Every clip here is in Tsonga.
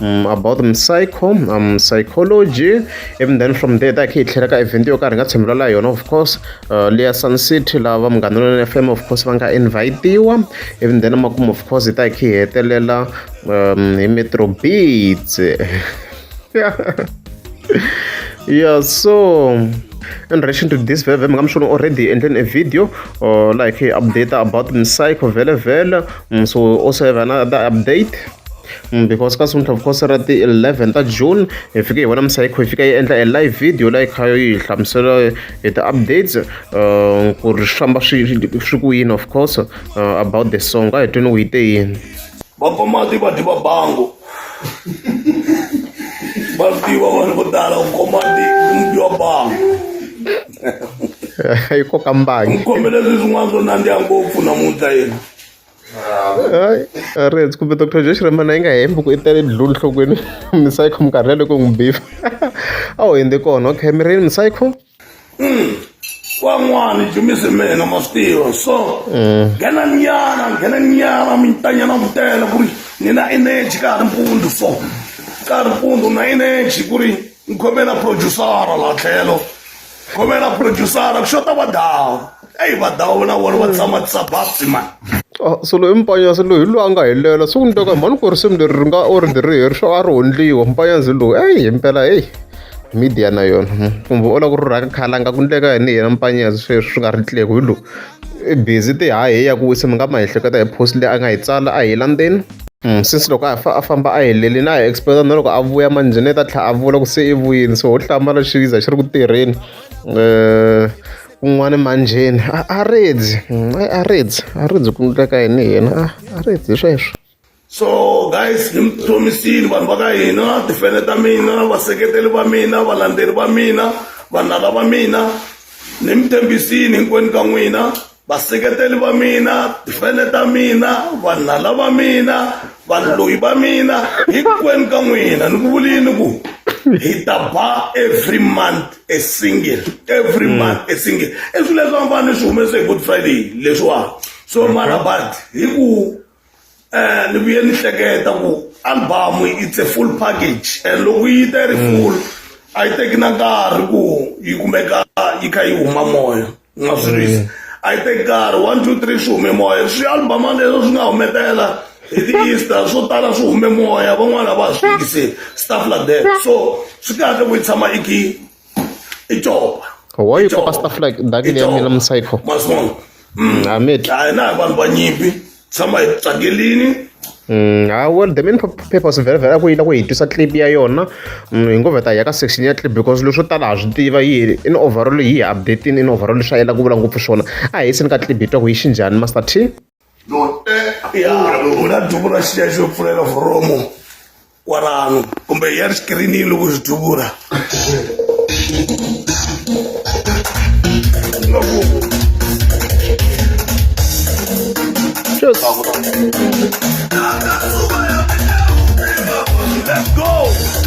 um, about the psycho um, psychology even then from there ta khe hi tlhela ka event yo karhi hi nga tshembela la yona of course uh, leya sun city lava va munghana lona fm of course va nga invitiwa even then makumu of course hi ta khe hi hetelela um, hi metro beats yeah so in relation to this veve mi nga mi swona already endleni a video or like update about msayikho vele vele mm, so also have another update Because ka Sonto of course ra ti-eleven ta June hi fike hi vona Msayikho yi fika yi endla e live video la yi kha yi hi hlamusela hi ti-updates ku ri swi famba swi swi ku yini of course about the song a hi twini u yi te yini vapfamati va dyi vabango va tiva vanhu vo tala ku komati mudyi wa bango yi koka mbangi kombela leswi swin'wana swo nandziha ngopfu namuntlha yena hayi a ri hundzi kumbe doctor Joe Shirimani a yi nga hembi ku i tele blue enhlokweni Msayko minkarhi liya loko hi n'wi beef a wu hundze kona okay mi ri yini Msayko van'wani jimisi mina ma swi tiva so nghena nyana nghena nyana mintanyana vutela ku ri ni na energy ka ha ri mpundzu so ka ha ri mpundzu na energy ku ri ni khomela producer la tlhelo khomela producer ku xota vadawu eyi vadawu na vona va tshama tisababsi mani ah, so loyi mpanyazi loyi loyi a nga helela so ni twa mhani ku risimu leri ri nga or ri ri heri swo a ri hondliwa mpanyazi loyi eyi hi mpela eyi media na yona hmm. kumbe u lava ku rhurhaka khala nga ku ndleka yini yena mpanyazi sweswi swi nga ri tleko hi loyi i busy ti haheya ku wisa mi nga ma ehleketa hi post leyi a nga yi tsala a hi landzeni Sesi loko a fa a famba a helele na hi expect na loko a vuya manjheni i ta tlhela a vula ku se i vuyini so ho hlamala xiviza xi ri ku tirheni um kun'wani manjheni a a redzi a redzi a redzi ku endleka yini yena a a redzi hi sweswo so guys ni mi khomisile vanhu va ka hina tifene ta mina vaseketeli va mina valandzeri va mina vanala va mina ni mi tshembisile hinkwenu ka n'wina vaseketeli va mina tifene ta mina vanhala va mina valoyi va mina hinkwenu ka n'wina ni ku vulini ni ku hi ta ba every month a single every mm. month a single i swilo leswi va ni swi humese hi good friday leswiwa so mara but hi ku eh ni vuye ni hleketa ku album it's a full package and loko yi ta ri mm. full a yi teki na nkarhi ku yi kumeka yi kha yi huma moya nga swi lwisi mm. a yi teki nkarhi one two three swi hume moya swi album leswo swi nga humetela hi ti-easter swo tala swi hume moya van'wana va swi fikise stuff like that so swi kahle ku yi tshama i khi It's over. Why you papa stuff like that in your milam psycho? Masmon. Mm. Amit. I know one one yipi. Somebody tsagelini. Mm, ah, well the main purpose very very ku yila ku hi twisa clip ya yona mm, hi ngo veta ya ka section ya clip because leswo tala ha swi tiva yi in overall hi updating in overall swi yela ku vula ngopfu swona a hi seni ka clip hi twa ku yi xinjhani master t na duvula xi ya xo pfulela foromo kwalano kumbe ya ri xikirini loko xi duvula Just... Let's go!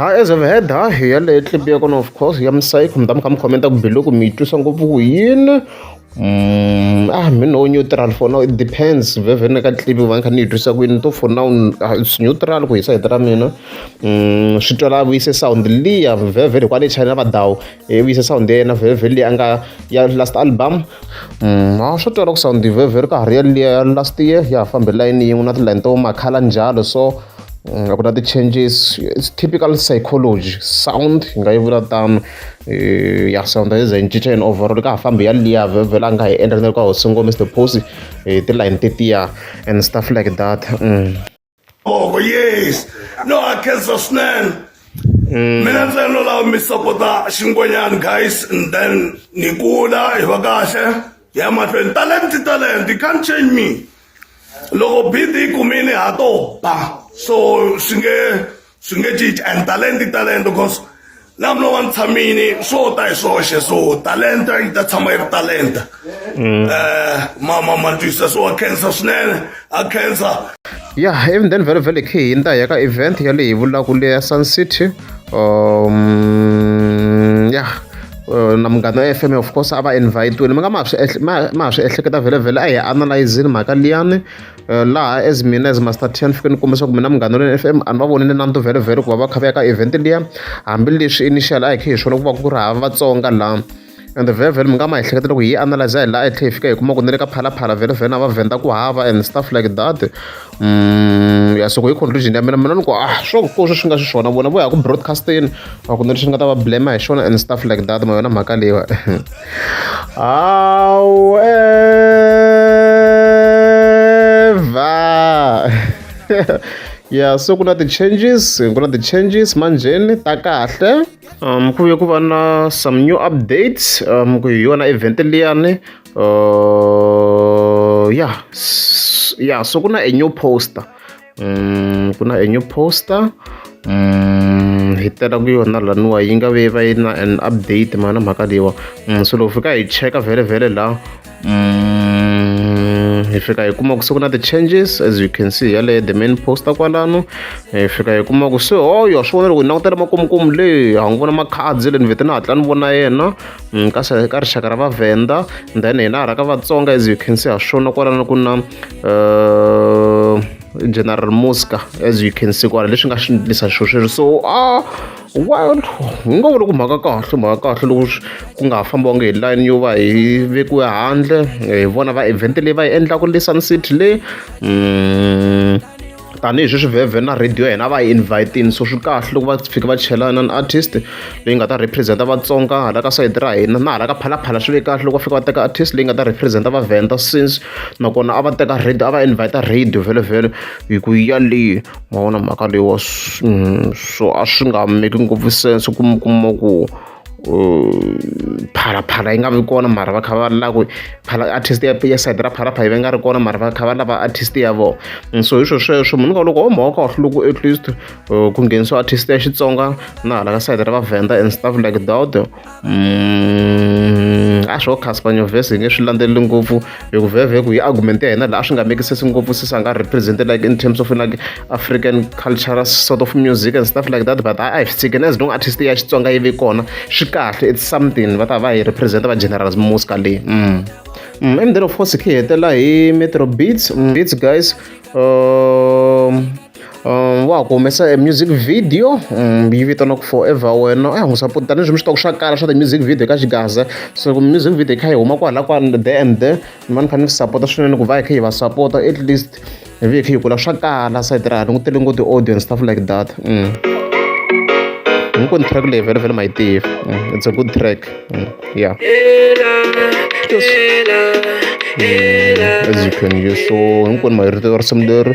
ha as of head ha hi yaleyo clip ya kona of course ya musayikho mi ta mi kha mi khomenta ku biloko mi yi twisa ngopfu ku yini Mm, ah mi no neutral for now it depends vevhene ka clip va kha ni yi twisa ku yini to for now ah, it's neutral ku hisa hita ra mina mm, swi twela vuyise sound liya vevhe loko a le china vadawu e vuyise sound ya yena vevhe leyi a nga ya last album mm, a swi twela ku sound vevhe ri ka ha ri ya liya last year ya fambe layini yin'we na tilayini to makhala njalo so nga vula ti-changes its typical psychology sound hi nga yi vula tano ya sound yi ze yi cinca yini overall ka ha fambi ya liya vhela a nga hi endla na ka ho singo mr posi hi tilayini tetiya and stuff like that mm. oh yes no a khensa swinene mm. mina ntsena no lava mi sapota xingonyani guys and then ni kula hi va kahle hi ya mahlweni talent talent you can't change me loko bidi yi kumile ha to ba so swi nge swi nge cinci and talent i talent because na mina wa ni tshamini swo ta hi swoxe so talenta yi ta tshama yi ri talenta um mama ma twisisa swo wa khensa swinene a khensa ya eventeni vhele vhele khe hi ta ya ka event yaleyi vulaka leya sun city um ya uh, na munghana wa fm of course a va invite-wile mi nga ma swi ma ha swi ehleketa vhelevhele a hi analyzini mhaka liyani uh, laha as mina as master ten fike ni kombisa ku mina munghana wa fm a ni va vonile nanto vhelevhele ku va va kha va ya ka event liya hambileswi initial a hi khe hi swona ku va ku ri hava vatsonga laha and vhevhe mi nga ma ehleketa loko hi analyze hi laha yi tlhela hi fika hi kuma ku ni le ka phalaphala vhevhe na va vhenda ku hava and stuff like that mm, ya soko hi conclusion ya mina mina ni ku ah swo ko swi nga xiswona vona vo ya ku broadcasting va ku ni leswi nga ta va blame hi xona and stuff like that ma yona mhaka leyiwa however ya so ku na ti-changes ku na ti-changes manjheni ta kahle Ah, mi ku ya ku va na some new updates ah, mi ku hi yona event liyani ah, ya ya so ku na a new poster mm, ku na a new poster mm, hi tela ku yona laniwa yi nga ve va yi na an update mana mhaka leyiwa mm, so loko fika hi cheka vhele vhele laha mm, hi fika hi kuma ku se ku na ti-changes as you can see yaleyo the main poster kwalano hi fika hi kuma ku se oyo oh, swi vona loko hi langutela makomukomu leyi ha n'wi vona makhadzi le ni vete ni hatla ni vona yena mm, ka ka rixaka ra vavhenda then hina ha ra ka vatsonga as you can see ha swona kwalano ku na uh, general mosca as you can see kwala leswi nga swi ndlisa xo sweswo so a ah, Wild wu nga vula ku mhaka kahle mhaka kahle loko ku nga ha fambiwanga hi line yo va hi vekiwe handle hi vona va event leyi va yi endlaka le sun city le mm, tanihi sweswi vhevhe na radio ya hina va yi invitini so swi kahle loko va fika va chela na artist leyi nga ta representa vatsonga hala ka sayiti ra hina na hala ka phalaphala swi ve kahle loko va fika va teka artist leyi nga ta representa vavhenda since nakona a va teka radio a va invita radio vhelovhelo hi ku yaleyo ma vona mhaka leyi wa mm, so a swi nga make ngopfu sense ku mi kuma ku phalaphala yi nga vi kona mara va kha va lava ku phala artist ya ya side ra phalaphala yi va nga ri kona mara va kha va lava artist ya vona mm, so hi swo sweswo munhu ka loko o mhaka kahle loko at least ku nghenisiwa artist ya xitsonga na hala ka side ra vavhenda and stuff like that a swo Cassper Nyovest hi nge swi landzeleli ngopfu hi ku vhevhe ku yi argument ya hina laha swi nga make sense ngopfu since a nga represent like in terms of like African cultural sort of music and stuff like that but a hi swi tshikeni as long artist ya Xitsonga yi ve kona swi kahle it's something va ta va hi represent va generals muska leyi mm. mm. emdeni of course khi hetela hi metro beats mm. beats guys um, Um, wa ha ku humesa e music video um, yi vitaniwaku forever wena a hi n'wi support tanihileswi mi swi tivaka swa kala swa ti-music video ka xigaza so ku music video yi kha yi huma kwahala kwala the and the ni va ni fanele ni support-a swinene ku va hi kha hi va support-a at least hi vi hi kha hi kula swa kala sayiti ra ha ni ku tele ngo ti-audience stuff like that mm. hinkwenu track leyi vhele vhele ma yi tiva mm, it's a good track mm, yeah as you can you so hinkwenu ma yi rito risimu leri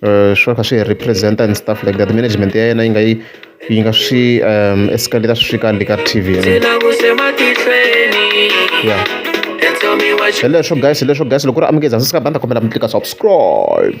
swi va kha swi hi represent-a and stuff like that management ya yena yi nga yi yi nga swi escalate-a swi fika le ka T_V ya hi leswo guys hi leswo guys loko ku ri amukeza ndzi sika banda kombela mi tlika subscribe